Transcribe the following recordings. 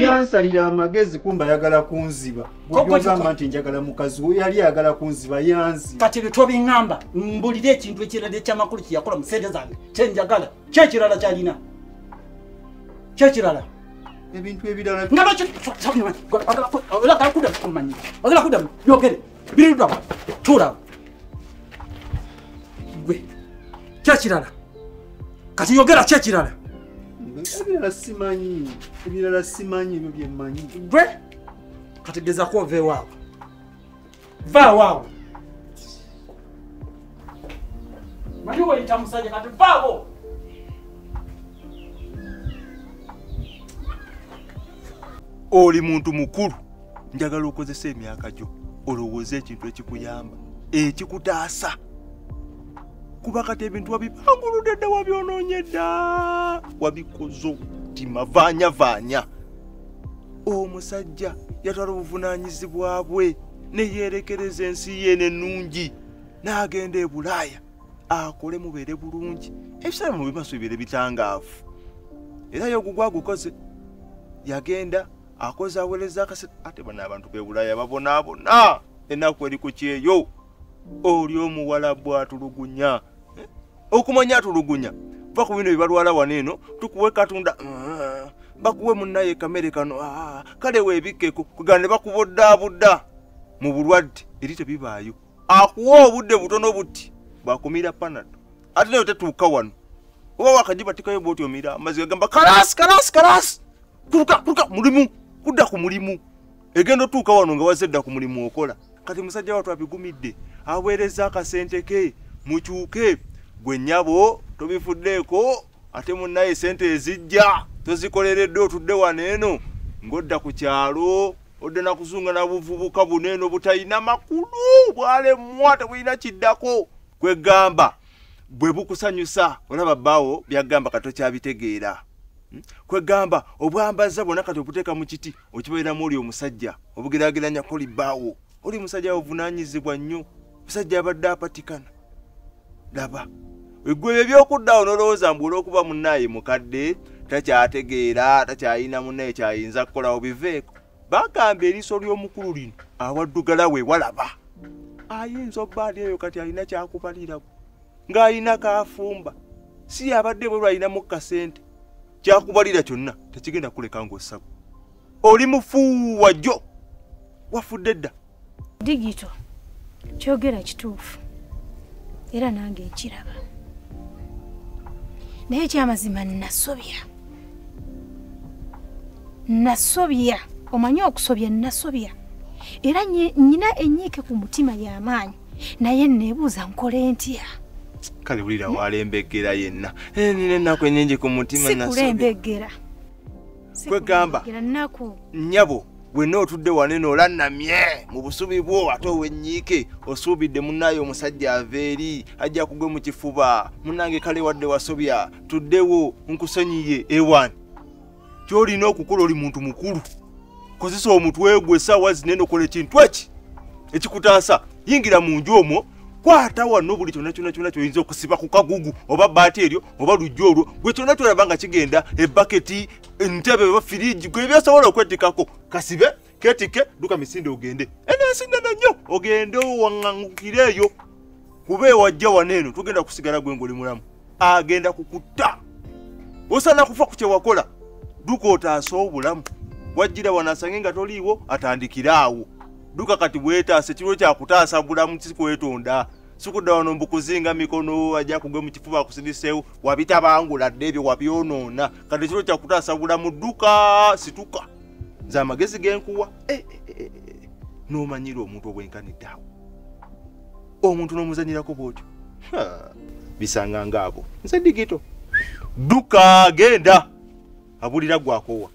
yansalira amagezi kumba ayagala kunziba ogamba nti njagala mukazi we yali ayagala kunziba yanzi kati ebyo tobiŋamba mbulire ekintu ekirala ekyamakulu kyeyakola mu sente zange kyenjagala kyekirala kyalina kyekirala ebintu ebirala nga bakyoagala kudamu kumanya agala kudamu yogere Biruda wa. Tura. Gwe. Kya kirala. Kati yogera kya kirala. Ebirala simanyi. Ebirala simanyi ebyo bye mmanyi. Gwe. Kati geza ko ve wawo. Va wawo. Mani wo itamusaje kati va wawo. Oli muntu mukulu. njagala okozesa emyaka gyo olowooza ekintu ekikuyamba ekikutaasa kuba kati ebintu wabibanguludde dda wabyonoonye dda wabikozo timavaanyavaanya omusajja yatwala obuvunaanyizibwa bwe neyeerekereza ensi ye nenungi n'agenda e bulaaya akole mubeere bulungi ebiseera mu bimaso bibeere bitangaavu era yogugwa agukoze yagenda akoze awereza akase ate bano abantu bebulaya babonaabona enaku eri ku kyeyo oli omuwala bwatulugunya eh? okumanya atulugunya va ku bino byebalwala wano eno tukuwe katunda ah, bakuwe munaye kamere kano ah, kale webikkeko kugana ne bakuboddabudda mu bulwadde eri tebibaayo akuwa obudde butono buti bwakumira panado ate nayo tetuuka wano oba wakajibatikayo bwoti omira amaziga gamba kalasi kalasi kalasi kuluka kuluka mulimu kudda ku mulimu egenda otuuka wano nga wazze dda ku mulimu okola kati musajja watu abigumidde aweereza akasente ke mukyuke gwe nyabo tobifuddeeko ate munnaye sente ezijja tozikoleredde otudde wano eno ng'odda ku kyalo odda nakuzunga na buvubuka buno eno butalina makulu bwalemwa tebulina kiddako kwegamba bwe bukusanyusa olaba bbaawo byagamba katokyabitegeera hmm? kwegamba obwambaza bwona kati obuteeka mu kiti okibeeramu oli omusajja obugerageranya koli baawo oli musajja ovunanyizibwa nnyo musajja abadde apatikana laba egwe ebyo byokuddawo nolowooza mbu olwokuba munaaye mukadde takyategeera takyayina munaye kyayinza kukolawo biveeko bagamba eriiso ly'omukulu lino awaddugala we walaba ayinza obbaali eyo kati alina kyakubaliraku ng'alina kaafumba si yabadde bwe lwalinamu kasente kyakubalira kyonna tekigenda kuleka ng'ossako oli mufuuwa jjo wafudde dda digito kyogera kituufu era nange nkiraba naye ekyamazima nasobya nasobya omanyi okusobya nasobya era nyina enyiike ku mutima y'amaanyi naye nebuuza nkole ntya kale bulira walembegera yenna eh, nina enaku enyingi ku mutima sikulembegera kwegamba nyabo wenna otudde waneno olannamye mu busubi bwo ate owenyiike osuubidde munaayo omusajja ava eri ajja kugwe mu kifuba munange kale wadde wasobya tuddewo nkusonyiye ewan kyolina okukola oli muntu mukulu kozesa omutwe gwe esaawa zinene okola ekintu eki ekikutaasa yingira mu nju omwo kwata wano buli kyona kyona kyona kyoyinza okusiba ku kagugu oba baati eryo oba lujja olwo gwe kyona kyolaba nga kigenda ebaketi entebe oba firiji gwe byosobola okwetikako kasibe ketike duka misinde ogende enensi nene nnyo ogende owaŋangukire eyo kuba ewajja wano eno tugenda kusigala gwe ngaoli mulamu agenda kukutta osana kufa ku kyewakola duka otaase obulamu wajjira wano asange nga toliiwo atandikire awo duka kati bwetaasa ekiro kyakutaasa bulamu kikwetonda sikuda wano mbukuzinga mikono aja kugwe mukifuba akusidisewo wabitabangula dde ebyo wabyonoona kati kiro kyakutaasa bulamu dduka situka nze amagezi genkuwa eh, eh, eh, nomanyira omuntu obwenkaniddeawo omuntu nomuzanyirako bwotyo bisanga ngaabo nze digito dduka genda abulira gwakowa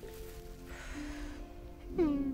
hmm.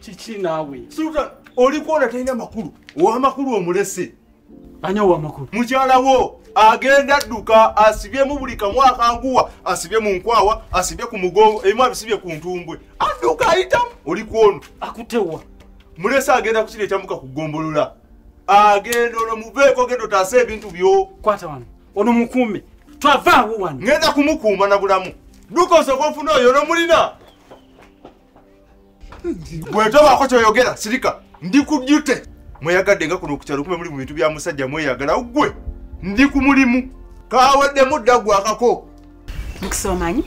kiki naawe sultan olikuona talina makulu owamakulu omulese anya owamakulu mukyala wo agenda dduka asibyemu buli kamu akanguwa asibye mu nkwawa asibye ku mugongo ebimu abisibye ku ntumbwe adduka ayitamu olikuono akutewa mulese agenda kukira ekyamuka ku ggombolola agenda ono muveeko genda otaasa ebintu byo kwata wano ono mukuume twavaawo wano ngenda kumukuuma na bulamu dduka osooka ofuna oyo nomulina bwetobaako kyoyogera sirika ndi ku dute mweyagadde nga kuno okukyalo kume muli mu bintu bya musajja mweyagala ggwe ndi ku mulimu kaweddemu dda gwakako mukisa omanyi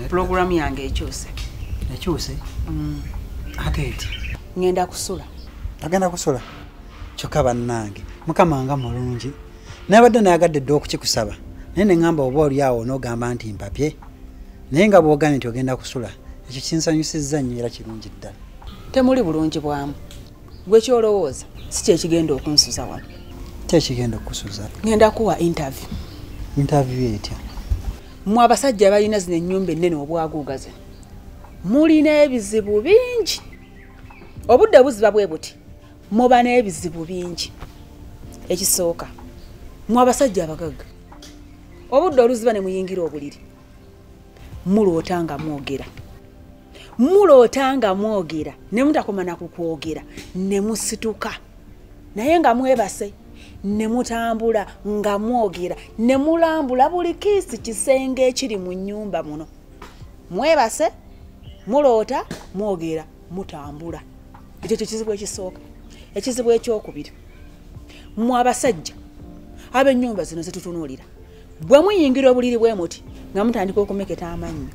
pulogulaamu yange ekyuse ekyuse mm. ate eti ngenda kusula agenda kusula kyokka bannange mukama nga mulungi nabadde nayagadde dda okukikusaba naye neŋamba oba oli awo nogamba nti mpapye naye nga bwogambye nti ogenda kusula ekyo kinsanyusizza nnyo era kirungi ddala temuli bulungi bwamu gwe kyolowooza si kyekigenda okunsuza wano kyekigenda okusuza ŋenda kuwa intervie intervie etya mwe abasajja balina zino ennyumba ennene obwaguugaze mulina ebizibu bingi obudde buziba bwe buti muba n'ebizibu bingi ekisooka mu abasajja abagagga obudde oluziba ne muyingira obuliri muloota nga mwogera muloota nga mwogera ne mutakoma na kukwogera ne musituka naye nga mwebase ne mutambula nga mwogera ne mulambula buli kiisi kisenge ekiri mu nnyumba muno mwebase muloota mwogera mutambula ekyo kye kizibu ekisooka ekizibu ekyokubiri mwe abasajja ab'ennyumba zino zetutunuulira bwe muyingira obuliri bwe muti nga mutandika okumeketa amannyo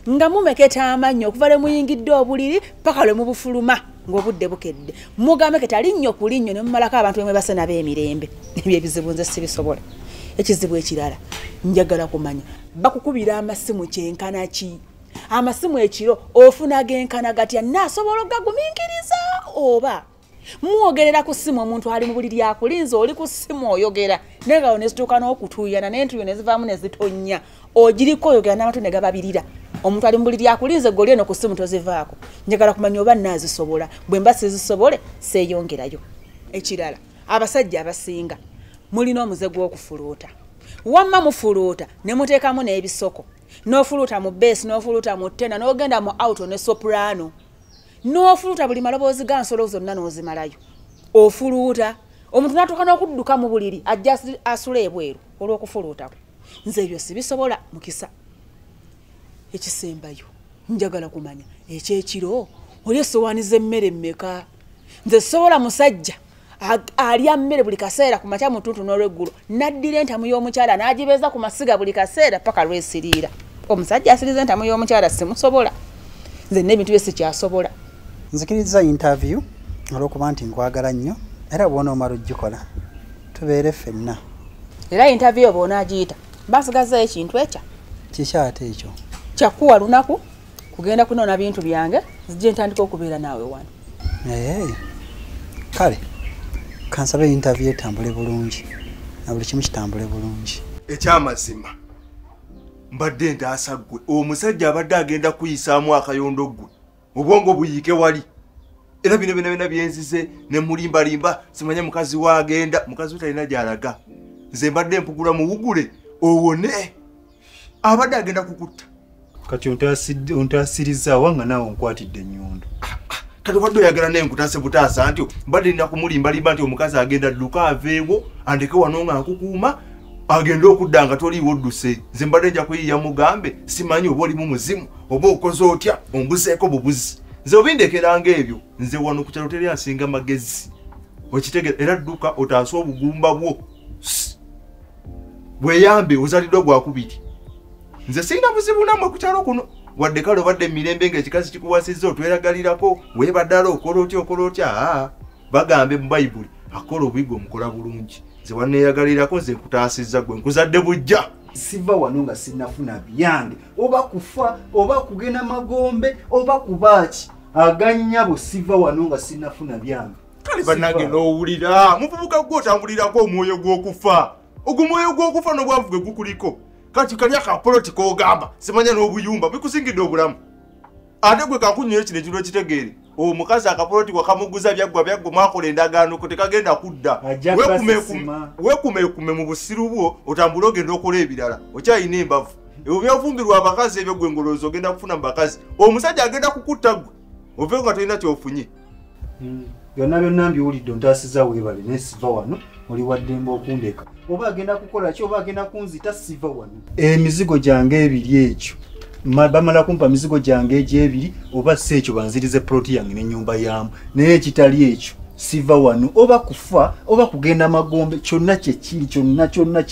nga mumeketa amannyo okuva lwe muyingidde obuliri paka lwe mubufuluma ng'obudde bukedde mugameketa linnyo ku linnyo ne mumalako abantu bemwe base nabo emirembe ebyo ebizibu nze sibisobola ekizibu ekirala njagala kumanya bakukubira amasimu kyenkana ki amasimu ekiro ofuna genkana gatya nasobola ogaguminkiriza oba mwogerera ku simu omuntu ali mu buli lyakulinza oli ku simu oyogera naye ngawo nezituuka n'okutuyana naye ntuyo nezivaamu nezitonnya ogiriko oyogera n'amatu ne gababirira omuntu ali mu buli lyakulinza eggoli eno ku simu tozivaako njagala kumanya oba naazisobola bwe mba sizisobole seeyongerayo ekirala abasajja abasinga mulina omuze gw'okufuluuta wamma mufuluuta ne muteekamu n'ebisoko n'ofuluuta mu beesi n'ofuluuta mu tena n'ogenda mu auto ne soprano n'ofuluuta buli maloboozi ga nsolo zonna n'ozimalayo ofuluuta omuntu n'atuuka n'okudduka mu buliri ajja asula ebweru olw'okufuluutako nze ebyo sibisobola mukisa ekisembayo njagala kumanya ekyekiro oli esowaani z'emmere mmeka nze sobola musajja alya mmere buli kaseera ku makya mutuntu n'olweggulo naddira entamu y'omukyala n'agibeeza ku masiga buli kaseera paka lwesiriira omusajja asiriza entamu y'omukyala simusobola nze n'ebintu bye sikyasobola nzikiriza interview olw'okuba nti nkwagala nnyo era bwona omala ogikola tubeere ffenna era interview bwona agiyita basigazayo ekintu ekya kiki ate ekyo kyakuwa lunaku kugenda kunoona bintu byange zijje ntandika okubeera naawe wano naye kale kansaba entavy etambule bulungi na buli kimu kitambule bulungi ekyamazima mbadde ntaasa ggwe omusajja abadde agenda kuyisaamu akayondo ggwe obwongo buyiike wali era bino bina bina byenzize ne mulimbalimba simanya mukazi waagenda mukazi we talina gyalaga nze mbadde mpugula muwugule owone abadde agenda kukutta kati ontaasirizza wanga naawe onkwatidde ennyundo ah, ah, kati obadde oyagala naye nkutaase butaasa nti mbadde nina kumulimbalimba nti omukazi agenda dduka aveewo andeke wano nga nkukuuma agende okudda nga toliiwo odduse nze mbadde nja kuyiiya mugambe simanyi oba olimu muzimu oba okoze otya ombuzeeko bubuzi nze obindekeranga ebyo nze wano ku kyalo teri asinga magezi okitegera era dduka otaase obugumba bwo bweyambe ozaliddwa gwakubiri nze sirina buzibu namwe ku kyalo kuno wadde kale obadde emirembe ngaekikazi kikuwasizza otweragalirako webaddala okola otya okola otya aa bagambe mu bayibuli akola obuyigwa omukola bulungi nze waneeyagalirako nze nkutaasizza gwe nkuzadde bujja siva wano nga sinafuna byange oba kufa oba kugenda magombe oba kubaaki aganyabo siva wano nga sinafuna byange kale banange nowulira muvubuka gwe otambulirako omwoyo gwokufa ogwo mwoyo gwokufa nobwavu gwe gukuliko kati kali akapoloti kogamba simanya nobuyumba bikusingidde obulamu ate gwe kakunyoyo kino ekintu ekitegeere omukazi akapoloti wakamuguza byaggwa byaggwa mwakola endagaano ko tekagenda kudda wekumekume mu busiru bwo otambule ogenda okola ebirala okyayina embavu ebyo byofumbirwa abakazi ebyo gwe ngoloozi ogenda kufuna mu bakazi omusajja agenda kukutta gwe ove nga tolina kyofunye hmm. byonna byonna mbiwulidde ontaasiza weebale naye siva wano oli waddemba okundeka oba agenda kukola ki oba agenda kunzita siva wano emizigo eh, gyange ebiri ekyo bamala kumpa mizigo gyange egyebiri oba si ekyo banzirize poloti yange n'ennyumba yaamu naye ekitali ekyo siva wano oba kufa oba kugenda magombe kyonna kyekiri kyonna kyonna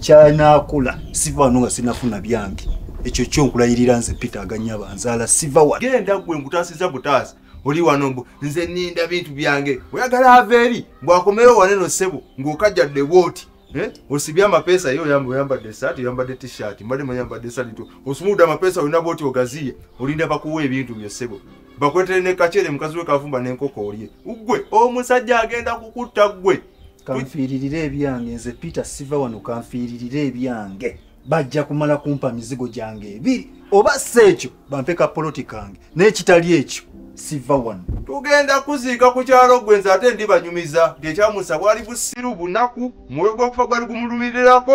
kyanakola siva wano nga sinafuna byange ekyo kyonkulayirira nze peter aganyaba nzaala siva wa genda gwe nkutasiza butaasi oli wano mbu nze ninda bintu byange oyagala ava eri mbwakomewo waneno ssebo ng'okajjadde bwoti eh? osibye amapeesa ye oyamba oyambadde esaati oyambadde tishirt mbadde mayambadde esalito osumudde amapeesa olina bwoti ogaziye olinda bakuwa ebintu byo ssebo bakwetele ne kachere mukazi we kavumba ne nkoko olye ugwe omusajja agenda kukutta gwe kanfiiririra ebyange nze peter siva wano kanfiiririra ebyange bajja kumala kumpa mizigo gyange ebiri oba si ekyo bampe ka poloti kange n'ekitali ekyo siva wano tugenda kuziika ku kyalo gwe nze ate ndibanyumiza ntyekyamusa bwali busiru bunaku mwoyo gwakufa gwali gumulumirirako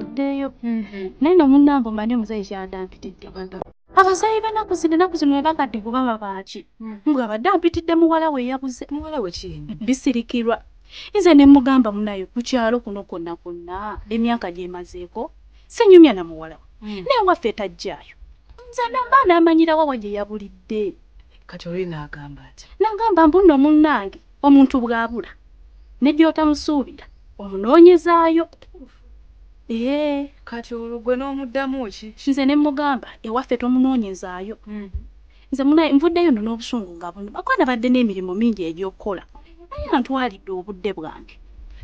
oddeeyo naye no munnange omanyi omuzeeyi kyandaampitidde abazayi banaku zino enaku zino webakadde kuba babaaki nga abadde ampitidde muwala we yabuze muwala we ki bisirikirwa nze ne mugamba munayo ku kyalo kuno kwonna kwonna emyaka gyemazeeko sinyumya na muwala we hmm. naye waffe tajjaayo nze namba namanyirawo wa gye yabulidde kati olina agamba ati nagamba mbuno munnange Omuntu bw'abula ne gy'otamusuubira omunoonyezaayo. Eehh kati olwo ggwe n'omuddamu ki? Nze ne mmugamba ewaffe tomunoonyezaayo. Nze munaye nvuddeyo nno n'obusungu nga bunnuma kuba nabadde n'emirimu mingi egy'okukola naye antwalidde obudde bwange.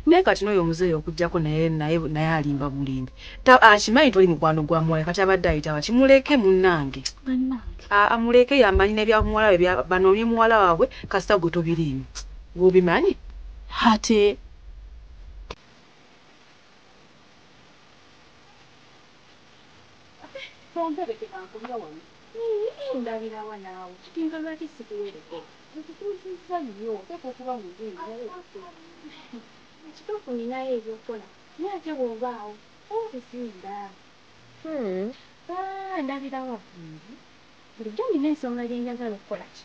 Naye kati n'oyo omuzeeyi okuggyako naye naye naye alimba bulimbi. Ta akimanyi toli mukwano gwa muwala kati abadde ayita waki muleke munange aa muleke yamanyi nebya muwala we bya banoonye muwala wabwe kasita gwe tobiriimu gwe obimanyi ate Tonterekera nkulya wano. Yii ndabirawa naawe kitegeeza lwaki sikuwereko nkutuuzizza nnyo oteekwa okuba muzungu naye obutuufu ekituufu ninayo ebyokukola. Naye ate bwoba awo oba otusinga. Hoo aah ndabira wa bambi. Bulijjo nina ensonga gyenjagala okukola ki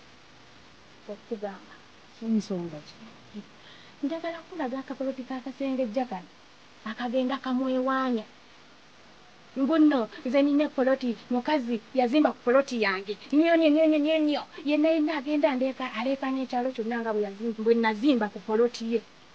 okugamba. Nsonga ki? Njagala kukulaga akapoloti ka kasengejja kano akagenda kamwewaanya. Mbunno nze nina epoloti mukazi yazimba ku poloti yange nyonyo nyonyo nyonyo yenna yenna agenda andeeka aleekaana ekyalo kyonna nga bwenazimba ku poloti ye.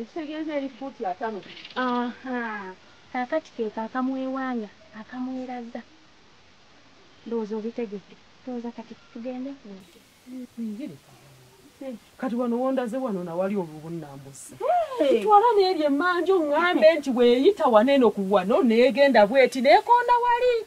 ekitegeeza eri fuuti ataano kaakati keeko akamwewanga akamweraga ndowooza obitegedde ndowooza kati tugende kati wano wondaze wano nawali olubunambusi kitwala neeri emanju ngambe nti weyita waneeno ku wano negenda bweti nekonda wali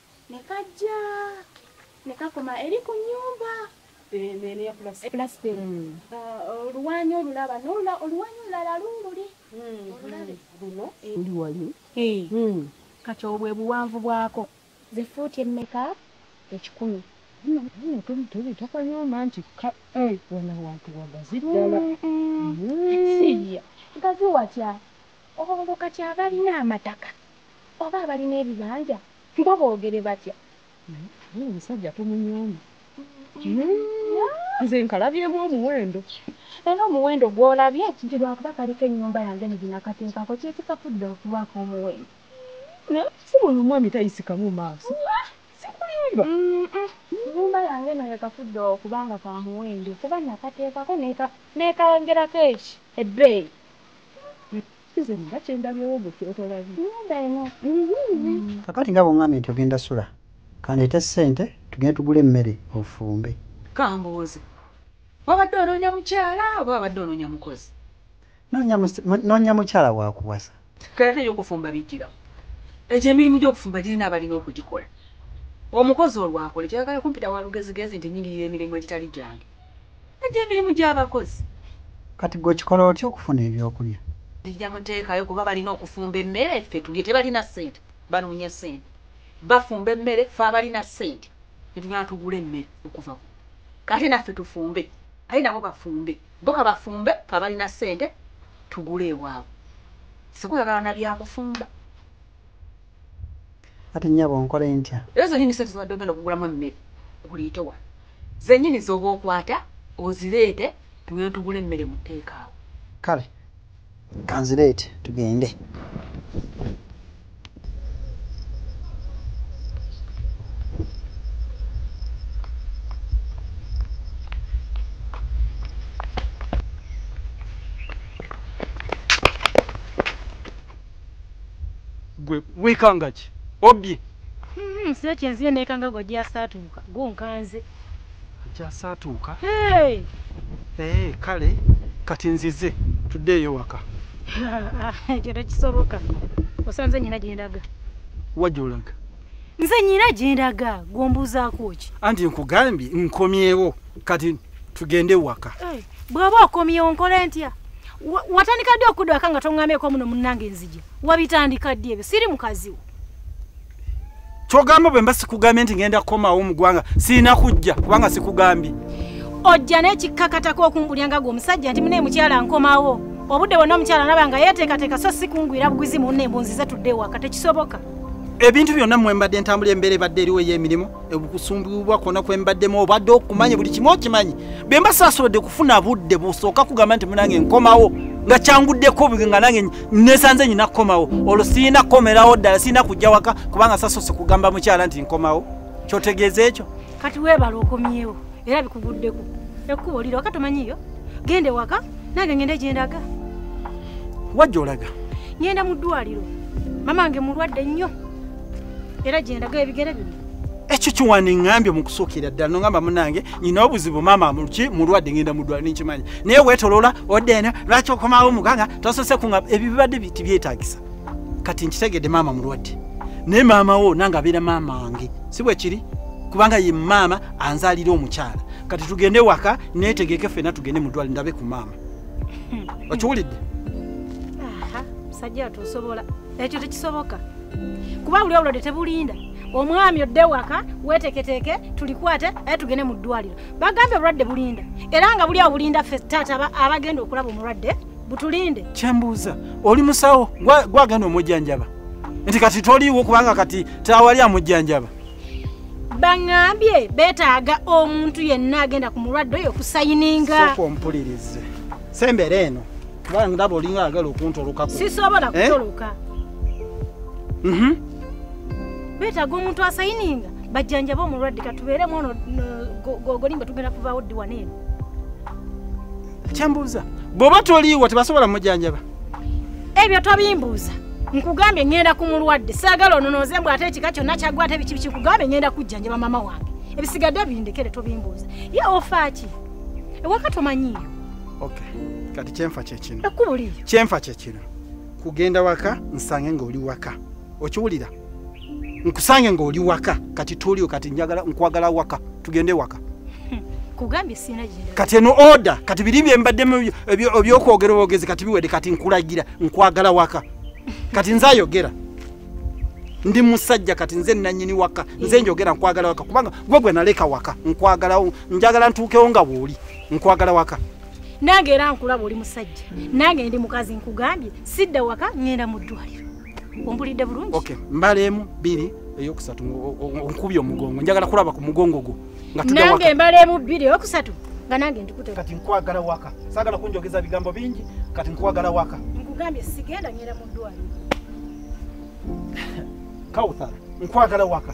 ne kajja ne kakoma eri ku nnyumba oluwanyi olulaba oluwanyi olulala luululi uli wali kati obwo ebuwanvu bwako ze fuuti emmeka ekikumi tubitakanyooma nti wano wantu wagazi ddala gazi watya Olwo kati abalina amataka oba abalina ebibanja bo bogere batya? Naye omusajja tumunyooma nze nkalabyemu omuwendo. Era omuwendo gwolabye nti lwakuba kaliko enyumba yange nze nakatekako kyekikafudde okuba akomuwendo naye sibuli omwami tayisikamu maaso sikulimba enyumba yange eno yekafudde okuba nga kamuwendo kuba nakatekako nekangerako ebbeeyi. Kakati nga bwongambye nti ogenda sula kandeete sente tugende tugule emmere ofumbe. Kambuuze wabadde onoonya mukyala oba wabadde onoonya mukozi? Noonya mukyala wakuwasa. Kati ate ebyokufumba bijjirawa? Egyo emirimu gyokufumba girina abalina okugikola. Omukozi olwo akole kyayagala kumpita walugezigezi nti nyingirira emirimu egitali gyange. Najja emirimu gy'abakozi. Kati ggwe okikola otya okufuna eby'okulya? Nzija muteekayo kuba balina okufumba emmere ffe tulye. Tebalina ssente banoonya ssente. Bafumba emmere ffe abalina ssente ne tugenda tugule emmere okuva ku ate naffe tufumbe ate nabo bafumbe. Bo ka bafumbe ffe abalina ssente tugule ewaabwe. Ssekola na bya kufumba. Kati nyabo nkole ntya. Era zenyini sente zobadde ogenda okugulamu emmere oliite wa? Zenyini zoba okwata ozireete tugende tugule emmere mu take awo. Kale kanzireete tugende. gwe wekangaki obye. Hmm sila kyenzile nekanga gwe jasaatuuka gwo nkanze. Jasaatuuka? Hey! Eeh kale kati nzize tuddeeyo waka. Ekyo tekisoboka osanze nyina gyendaga. Wa gyolaga? Nze nyina gyendaga gwe ombuuzaako ki? Anti nkugambye nkomyewo kati tugende waka. Hey! bw'oba okomyewo nkole ntya watandika ddi okudwaka nga toŋŋameko muno munnange nzija wabitandika ddi ebyo siri mukaziwo kyogamba bwe mba sikugambye nti ngenda kukomawo mu ggwanga sirina kujja kubanga sikugambye ojja n'ekikkakatako okumbulya nga gwe omusajja nti mune mukyala nkomawo obudde bwonna omukyala naba nga yeeteekateeka so sikungwira buguzi munne embunzi ze tudde ewaka tekisoboka ebintu byonna mwembadde ntambula embeera ebadde eriwo ey'emirimu okusumbibwa kwona kwembaddemu obadde okumanyi buli kimu okimanyi bwe mba saasobodde kufuna budde busooka kugamba nti munange nkomawo nga kyanguddeko bwe nga nange nesanze nyina kukomawo olwo sirina kukomerawo ddala sirina kujja waka kubanga sasoose kugamba mukyala nti nkomawo kyotegeeza ekyo kati weebala okomyewo era bikuguddeko ekkubo lira waka tomanyiyo gende waka nange ngende gyendaga wajja olaga ngenda mu ddwaliro mamange mulwadde nnyo era gyendaga ebigere bino ekyo kiwandiŋambye mu kusookera ddala nongamba munange nyina obuzibu maama mulki mulwadde ngenda mudwala ninkimanya naye wetolola odde eno lwaki okomawo muganga tosose kunga ebyo bibadde tibyetagisa kati nkitegedde maama mulwadde naye maama wo nange abeera maama wange si bwekiri kubanga ye maama anzalira omukyala kati tugende waka netegeke fena tugende mudwale ndabe ku maama okiwulidde musajja atusobola ekyo tekisoboka kuba buli obulwadde tebulinda omwami odde waka weteketeke tulikwate aye tugende mu ddwaliro bagambye obulwadde bulinda era nga buli awo bulinda fe taata abagenda okulaba omulwadde butulinde kyembuuza oli musawo gwagenda omujjanjaba nti kati toliiwo kubanga kati tawali amujjanjaba baŋambye betaaga omuntu yenna agenda ku mulwadde oyo kusayininga okumpulirize sembeera eno kuba ndaba olinga agala okuntolokako sisobola eh? kutoloka mhm. beetaga omuntu asayininga bajjanjaba omulwadde katubeeremu ono gogolimba tugenda kuvaawo ddi wano eno kyembuuza bw'oba toliiwo tebasobola mujanjaba ebyo tobimbuuza nkugambye ŋŋenda ku mulwadde saagala ononooze mbw ate ekika kyonna kyagwa ate biki biki kugambye ŋŋenda kujjanjaba maama wange ebisigadde bindekere tobimbuuza ye ofaaki ewaka tomanyiiyo okay kati kyenfa kyekino ekkubo liryo kyenfa kyekino kugenda waka nsange ng'oli waka okiwulira nkusange ng'oli waka kati tuliwo kati njagala nkwagala waka tugende waka kugambye sina genda kati eno order kati biri bye mbadde ebyokwogera obwogezi kati biwede kati nkulagira nkwagala waka kati nze ayogera ndi musajja kati nze nanyini waka nze njogera nkwagala waka kubanga gwe gwe naleka waka nkwagala njagala ntuukewo nga wooli nkwagala waka nange era nkulaba oli musajja nange ndi mukazi nkugambye sidda waka ŋŋenda mu ddwaliro ombulidde bulungi okay. mbaleemu bbiri eyokusatu nkubye omugongo njagala kulaba ku mugongo gwo nange mbaleemu bbiri eyokusatu nga nange ndikute kati nkwagala waka saagala kunjogeza bigambo bingi kati nkwagala waka nkugambye sigenda ŋŋenda mu ddwaliro kawuthara nkwagala waka